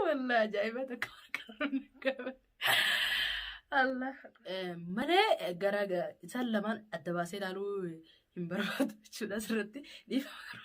Wallah ajaa'iba takka warqaa Allah. Malee gara isaan lamaan adda baasee ilaaluu hin barbaadu jechuudha asirratti dhiifama.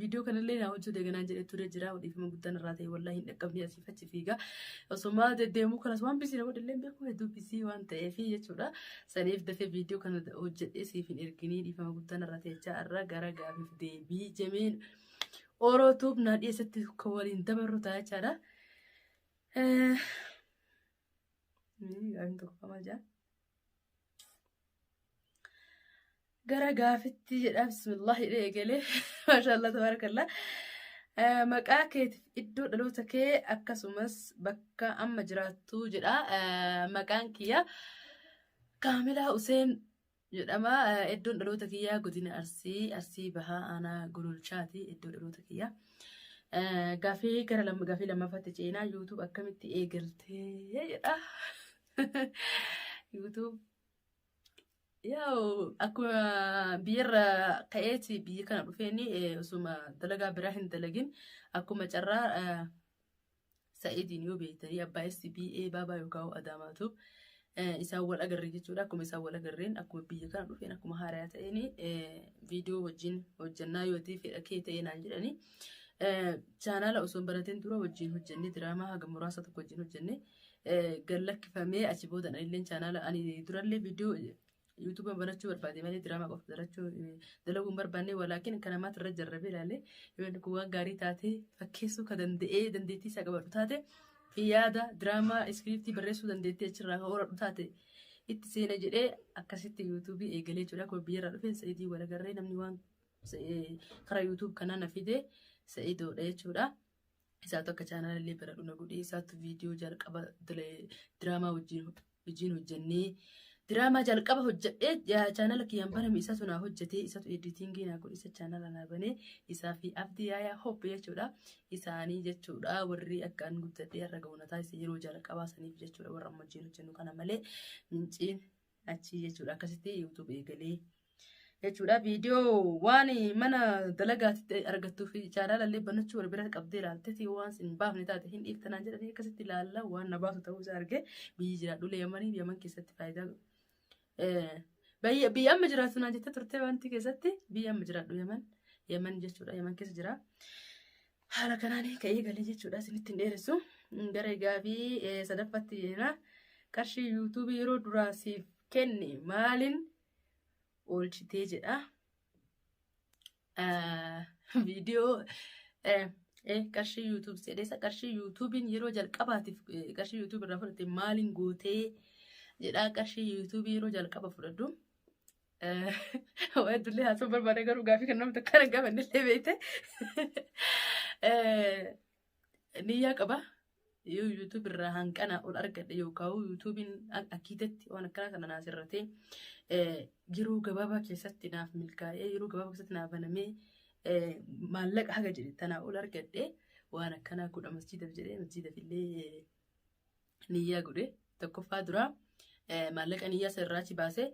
Viidiyoo kanallee naa hojjuu daganaan jedhee ture jira. Odeeffama guddaan irraa ta'e wallaahi hin dhaqqabne asiif achi fiiga. Osoma deddeemuu kanas waan bisii na godhallee hin beeku hedduu bisii waan ta'eef jechuudha. Saniif dafee viidiyoo kana hojjedhee siif hin erginii dhiifama guddaan irraa ta'e jechaa irra gara gaafiif deebii jemeen orootuuf naa dhiyeessatti kan waliin dabarru ta'a jechaadha. Gaafiin tokko qamaa jira. gara gaafitti jedha bismillah jedhee eegalee maashaallah tabarakallah maqaa keetiif iddoo dhaloota kee akkasumas bakka amma jiraattu jedha maqaan kiyya kaamilaa useen jedhama iddoon dhaloota kiyyaa godina arsii arsii bahaa aanaa gololchaati iddoo dhaloota kiyyaa gaafii gara gaafii lammaffaatti ceenaa yuutuub akkamitti eegaltee jedha YouTube. Yaa'u akkuma biyyarra ka'eeti biyya kana dhufeeni eh, osuma dalagaa biraa hin dalagin akkuma carraa eh, sa'iidiin yoo beektanii abbaa SBA baabaa yookaan adaamaatu eh, isaan wal agarre jechuudha. Akkuma isaan wal agarreen akkuma biyya kana dhufeen akkuma haarayaa ta'een eh, viidiyoo wajjin hojjannaa yoo ta'e fedha kee ta'ee naan jedhanii. Eh, Chaanaala osoo hin banatin dura wajjin hojjennee diraamaa haga muraasa tokko wajjin hojjennee gad lakkifamee achi booda illeen chaanaala ani durallee viidiyoo yuutuuba barachuu barbaade malee diraamaa qofa barachuu dalaguu hin barbaanne walaakin kan ammaatti irra jarrabee ilaalee yoo inni kun waan gaarii taate fakkeessuu ka danda'ee dandeettii isaa qabadhu taate yaada diraamaa iskiriiptii barreessuu dandeettii achirraa ka horadhu taate itti seena jedhee akkasitti yuutuubii eegalee jechuudha akkuma biyyarraa dhufeen sa'idii walagarree namni waan karaa yuutuub kanaa na fide sa'idoodha jechuudha. Isaatu akka chaanala illee baradhu na godhee isaatu viidiyoo jalqaba dile- diraamaa wajjin wajjin hojjennee diraamaa jalqaba hojjedhee ja- chaanala kiyyaan baname isaatu naa hojjetee isaatu editingii naa godhe isa chaanala naa banee isaa fi abdii yaayaa hoppe jechuudha isaanii jechuudha warri akka an guddadhee har'a ga'u na taasise yeroo jalqabaa saniif jechuudha warra amma wajjin hojjennu kana malee minciin Achii jechuudha akkasitti YouTube eegalee jechuudha viidiyoo waan mana dalagaatti argattuu fi chaanaalallee banachuu wal bira qabdee ilaalteeti waan sin baafne taate hin dhiiftanaan jedhanii akkasitti ilaalla waan na baasu ta'uu isaa argee biyyi jiraadhulee yamanii yaman keessatti faayidaa biyya amma jiraatu naan jettee turte wanti keessatti biyya amma jiraadhu yaman yaman jechuudha yaman keessa jira. Haala kanaan ka'ee galee jechuudha isinitti hin dheeressu. Gara gaafii sadaffaatti jira. Qarshii yuutuubii yeroo duraa siif kenne maaliin oolchitee jedha. Viidiyoo qarshii yuutuubii jedheessa qarshii yuutuubiin yeroo jalqabaatiif qarshii yuutuubii irraa fudhatte maaliin gootee jedha qarshii yuutuubii yeroo jalqaba fudhadhu. Waa iddollee haasoo barbaada garuu gaafii kan namni takkaan gaafa illee beekte. Niyyaa qaba. Yoo YouTube irraa hanqana ol argadhe yookaan YouTube'n akkiitetti waan akkanaa kana naas irratee yeroo gabaabaa keessatti naaf milkaa'ee yeroo gabaabaa keessatti naaf banamee maallaqa haga jedhe tanaa ol argadhe waan akkanaa godha masjiidaf jedhee masjiidaf illee niyyaa godhe tokkoffaa duraa eh, maallaqa niyyaa isa irraa achi baasee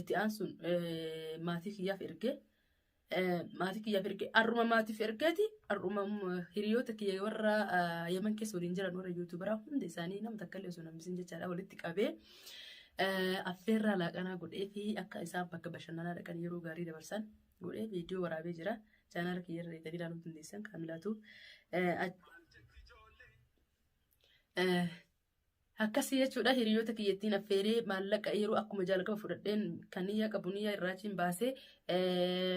itti aansuun eh, maatii kiyyaaf erge eh, maatii kiyyaaf erge har'uma maatiif ergeeti har'uma mm, hiriyoota kiyya warra ah, yaman keessa waliin jiran warra yuutuubaraa hunda isaanii nama takka illee osoo nambisin jechaadha walitti qabee eh, affeerraa laaqanaa godhee fi akka isaan bakka bashannanaa dhaqan yeroo gaarii dabarsan godhee viidiyoo waraabee jira chaanaala kiyya irra deebiin ilaaluu dandeessan kaamilaatu eh, Akkasii jechuudha hiriyoota kiyyattiin affeeree maallaqa yeroo akkuma jalqaba fudhadheen kan niyyaa qabu niyyaa irraachiin baasee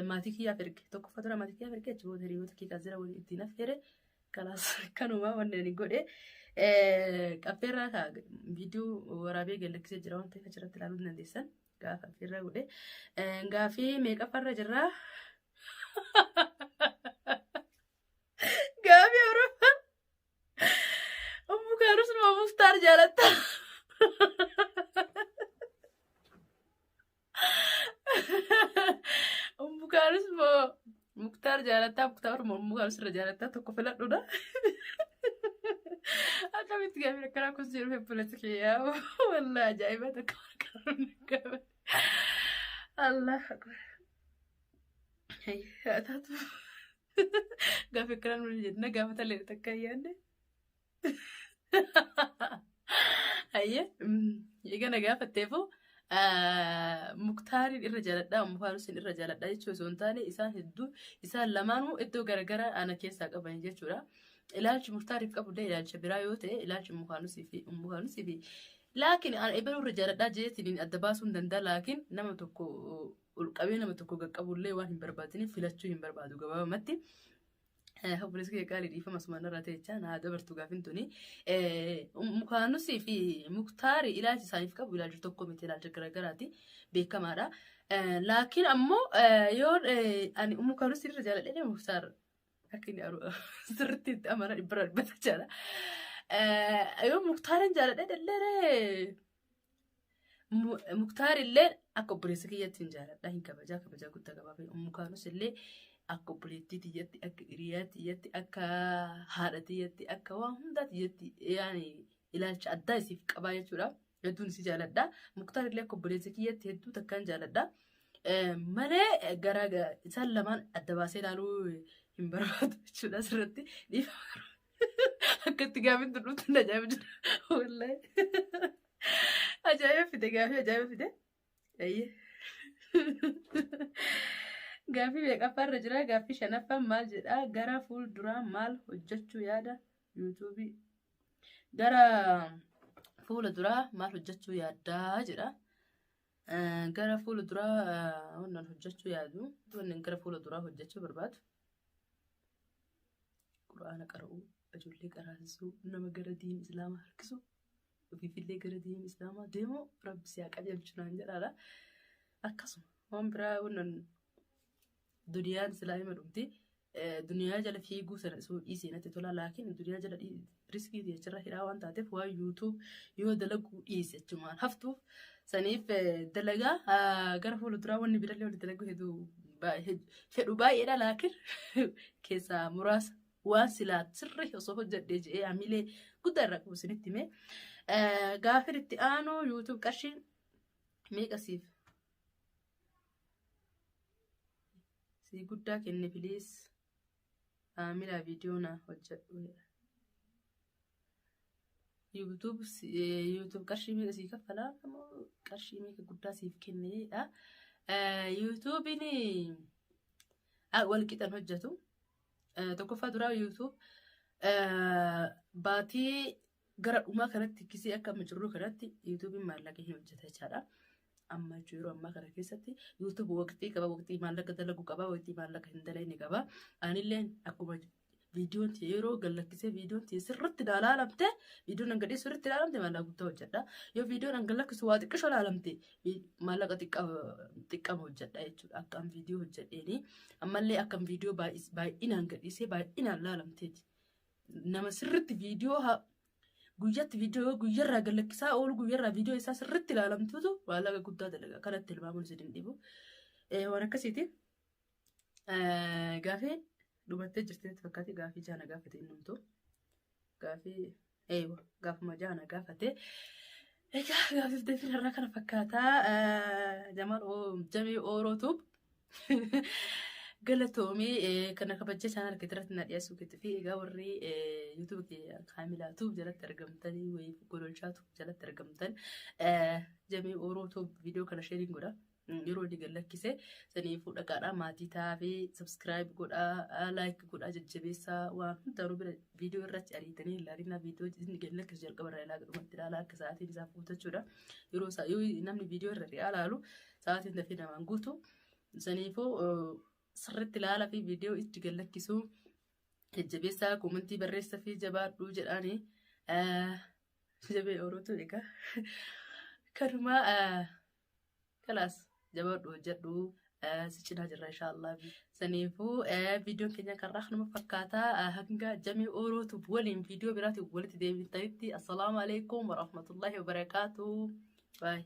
maatii kiyyaaf erge tokkoffaa dura maatii kiyyaaf erge achi booda hiriyoota kiyyaa jira waliin ittiin affeere kalaas kanumaa wanneen godhe affeerraa kaa viidiyoo waraabee gallakkisee jira waan ta'eef achirratti ilaaluu ni dandeessan gaafa affeerraa godhe gaafii meeqaffarra jirraa gaafii awurooppaa Ummu kaanus nama muftaar jaalatta. Ummu kaanus moo muktaar jaalatta muktaar moo ummu kaanus irra jaalatta tokko filadhuudha. Akkamitti gaafii akkanaa kun jiru hebbulatu kiyyaa wallah ajaa'iba tokko qabuun gaafii. Allah akbar. Hayyaa taatu. Gaafa akkanaa nuun jenna gaafa talee takka ayyaanne. Ayyee eegana gaafatteefu muktaariin irra jaaladha ammoo faarusiin irra jaaladha jechuu osoo hin taane isaan hedduu isaan lamaanuu iddoo garaagaraa ana keessaa qaban jechuudha. Ilaalchi muktaariif qabullee ilaalcha biraa yoo ta'e ilaalchi mukaanusiif fi mukaanusiif laakiin ana ebaluu irra jaaladha jeetiin adda baasuu hin danda'a laakiin nama tokko ol qabee nama tokko qaqqabullee waan hin barbaadiniif filachuu hin barbaadu gabaabamatti. Obboleessi kee gaarii dhiifama sumaan irraa ta'echaa naa dabartu gaafin tuni. Mukaanusii fi muktaari ilaalchi isaaniif qabu ilaalcha tokko miti ilaalcha garaagaraati beekamaadha. Laakiin ammoo yoo ani mukaanusii irra jaaladhee muktaar akka inni sirriitti itti amana dhibbara dhibbata jala. Yoo muktaariin jaaladhee dhallee Muktaar illee akka obboleessa kiyyatti hin jaaladha hin kabajaa kabajaa guddaa qabaa fi ummu kaanus illee akka obboleettii tiyyatti akka hiriyaa tiyyatti akka haadha tiyyatti akka waan hundaa tiyyatti yaani ilaalcha addaa isiif qabaa jechuudha. Hedduun isii jaaladha. Muktaar illee akka obboleessa kiyyatti hedduu takkaan jaaladha. Malee garaa isaan lamaan adda baasee ilaaluu hin barbaadu jechuudha asirratti dhiifama. Akkatti gaafiin tun dhuftu na ajaa'iba jira. Wallaahi. Ajaa'iba fide gaafii ajaa'iba fide. Eeyyee. Gaafii meeqaffaa irra jira? Gaafii shanaffaan maal jedha? Gara fuulduraa maal hojjechuu yaada? Yuutuubii. Gara fuula duraa maal hojjechuu yaaddaa jedha. Eh, Gara fuula duraa eh, wannan hojjechuu yaadu. Wannan gara fuula duraa hojjechuu barbaadu. Qur'aana qara'uu, ijoollee qaraasisuu, nama gara diin islaamaa harkisu, ofiifillee gara diin islaamaa deemu rabbi si haa qajeelchu naan jedhaadha. Akkasuma waan biraa wannan duniyaan silaa hima dhumti. Duniyaa jala fiiguu sana isuu dhiisee natti tola laakiin duniyaa jala riskii fi achirra hidhaa waan taateef waan YouTube yoo dalaguu dhiise achumaan haftuuf saniif dalagaa gara fuulduraa wanni birallee walitti dalaguu hedduu fedhu baay'eedha laakiin keessaa muraasa waan silaa sirrii osoo hojjedhee jedhee hamilee guddaa irraa qabu isinitti himee gaafin itti aanu YouTube qarshii meeqa siif sii guddaa kenne piliis. Maamila viidiyoo naaf hojjedhu jedha. YouTube YouTube qarshii meeqa sii kaffalaa moo qarshii meeqa guddaa siif kenne jedha. YouTube'n wal qixan hojjetu. Tokkoffaa duraa YouTube baatii Gara dhumaa kanatti kisee akka amma jirru kanatti yuutuubiin maallaqa hin hojjeta jechaadha. Amma jechuun yeroo ammaa kana keessatti yuutuubi waqtii qaba waqtii maallaqa dalagu qaba waqtii maallaqa hin dalagne qaba. Anillee akkuma viidiyoon tiyya yeroo gallakkisee viidiyoon tiyya sirriitti naa laalamte viidiyoon hanga dhiyeessu sirriitti laalamte maallaqa guddaa hojjedha. Yoo viidiyoon hanga lakkisu waa xiqqisho laalamte vi- maallaqa xiqqa- xiqqama hojjedha jechuudha. Akkaan viidiyoo hojjedheeni ammallee akkan viidiyoo baay'is- baay'inaan gadhiisee baay'inaan laalamteeti. Nama sirriitti viidiyoo haa guyyatti viidiyoo guyyarraa gallakkisaa oolu guyyarraa viidiyoo isaa sirriitti ilaalamtuutu maallaqa guddaa dalaga kanatti ilmaamuun isin hin dhibu. Waan akkasiiti gaafii dhumattee jirteetti fakkaate gaafii jaana gaafate innumtu gaafii eewa gaafuma jaana gaafate. Egaa gaafif deebiin irraa kana fakkaataa jamaan jamee oorootu Galatoomii eh, kana kabaja channel kee irratti na dhiyeessuu keetii fi egaa warri eh, YouTube kee kaamilaa tuub jalatti argamtanii wayii gololchaa tuub jalatti argamtan eh, jamii ooroo tuub viidiyoo kana sheeriin godha. Mm, Yeroo inni gad lakkise saniifuu dhaqaadhaa maatii ta'aa fi subscribe godhaa like godhaa jajjabeessaa waan hundaanuu bira viidiyoo irratti ariitanii ilaalinaa viidiyoo inni gad lakkisu jalqaba irraa ilaa gadhumatti ilaalaa akka sa'aatiin isaaf guutachuudha. Yeroo isaa yoo namni viidiyoo irra ilaalu Sa'aatiin dafee namaan guutu. Saniifuu sirriitti ilaalaa fi viidiyoo itti gallakkisuu jajjabeessaa koomantii barreessaa fi jabaadhuu jedhaani. Jabee ooluutu egaa. Kanumaa kalaas jabaadhu hojjedhu si cinaa jirra inshaallah. Saniifuu viidiyoon keenya kanarraa kanuma fakkaata hanga jamii oolootu waliin viidiyoo biraatiin walitti deebitanitti assalaamu alaikum warahmatullahi wabarakaatu. Bye.